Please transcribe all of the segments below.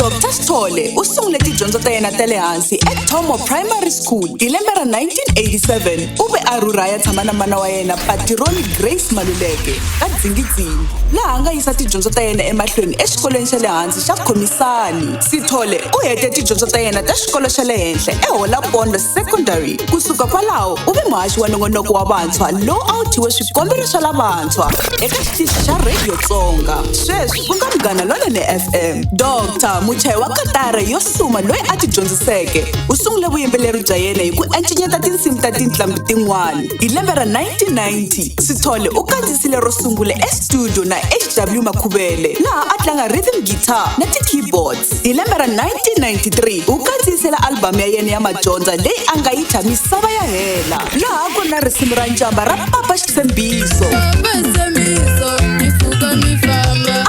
Dr Sithole u sungule tidyondzo ta yena ta le hansi eThomo Primary School hi lembe ra 1987 u ve a rhurha ya tshama na mana wa yena patironi Grace Maluleke ka Dzingidzingi laha a nga yisa tidyondzo ta yena emahlweni exikolweni xa le hansi xa Khomisani Sithole u hete tidyondzo ta yena ta xikolo xa le henhla eHolapondo Secondary kusuka kwalaho u ve muhaxi wa nongonoko wa vantshwa lowu a wu thyiwe swikombelo swa lavantshwa eka xitichi xa radio tsonga sweswi ku nga munghana lonene fm dr muchayi wa katara yo suma loyi a ti dyondziseke u sungule vuyimbeleri bya yena hi ku encenyeta tinsimu ta tintlambi tin'wana hi lembe ra 1990 sithole u kandzisile ro sungula estudio na hw makhuvele laha a tlanga rhythm guitar na ti-keyboards hi lembe ra 1993 u kandziyisela albhamu ya yena ya madyondza leyi a nga yi thya misava ya hela laha ku na risimu ra njamba ra papa xitshembiso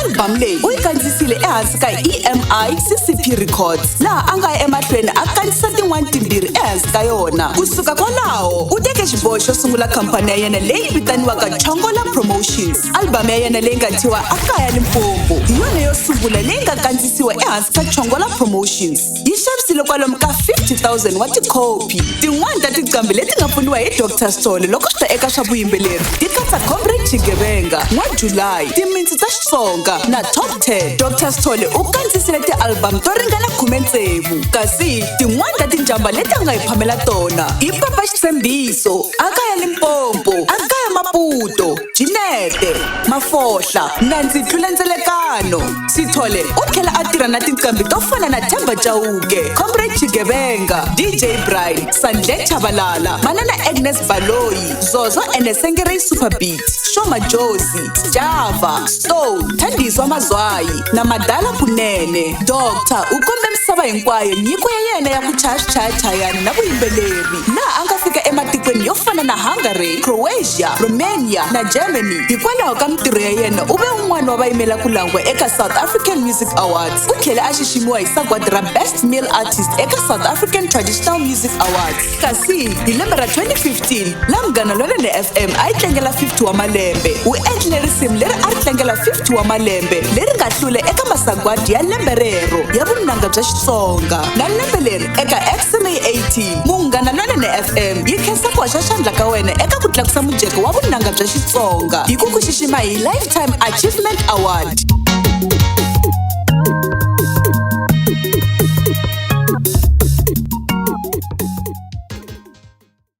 albhamu leyi u yi kandzisile ehansi ka emi ccp records laha a nga ya emahlweni a kandzisa tin'wana timbirhi ehansi ka yona kusuka kwalaho u teke xiboho xo sungula khampani ya yena leyi vitaniwaka chongola promotions albhamu ya yena leyi nga thyiwa a kaya limpombo hi yona yo sungula leyi nga kandzisiwa ehansi ka chongola promotions yi xavisile kwalomu ka 50,000 wa tikhopi tin'wana ta tiqambi leti nga pfuniwa hi dr sole loko swi ta eka swa vuyimbeleri ti katsa comrade xigevenga n'wa julayi timitsi ta xitsonga na top 10 dr sole u kandzisile tialbamu to ringana khume tsevu kasi tin'wana ta tinjamba leti a nga hi phamela tona i papa xitshembiso a kaya limpompo a kaya maputo Jinete, Mafohla, Nandzi Tlula Ndzelekano, Sithole u tlhela a tirha na tinqambi to fana na Themba Chauke, Comrade Chigevenga, DJ Brian, Sandle Chavalala, Manana Agnes Baloyi, Zozo and Sengerei Superbeat, Shoma Jozi, Java, Stone, Thandiswa Mazwayi na Madala Kunene. Doctor u kombe misava hinkwayo nyiko ya yena ya ku chaya swichayachayani na vuyimbeleri. laha a nga fika ematikweni yo fana na hungary croatia romania na germany hikwalaho ka mintirho ya yena u ve un'wana wa vayimela ku langwa eka south african music awards u tlhele a xiximiwa hi sagwadi ra best male artist eka south african traditional music awards kasi hi lembe ra 2015 la munghana lonene fm a yi tlangela 50 wa malembe u endlile risimu leri a ri tlangela 50 wa malembe leri nga hlule eka masagwadi ya lembe rero ya vunanga bya xitsonga na lembe leri eka xma 80 munghana lonene fm yi khensa ku haxa xandla ka wena eka ku tlakusa mujeko wa vunanga bya xitsonga hi ku ku xixima hi lifetime achievement award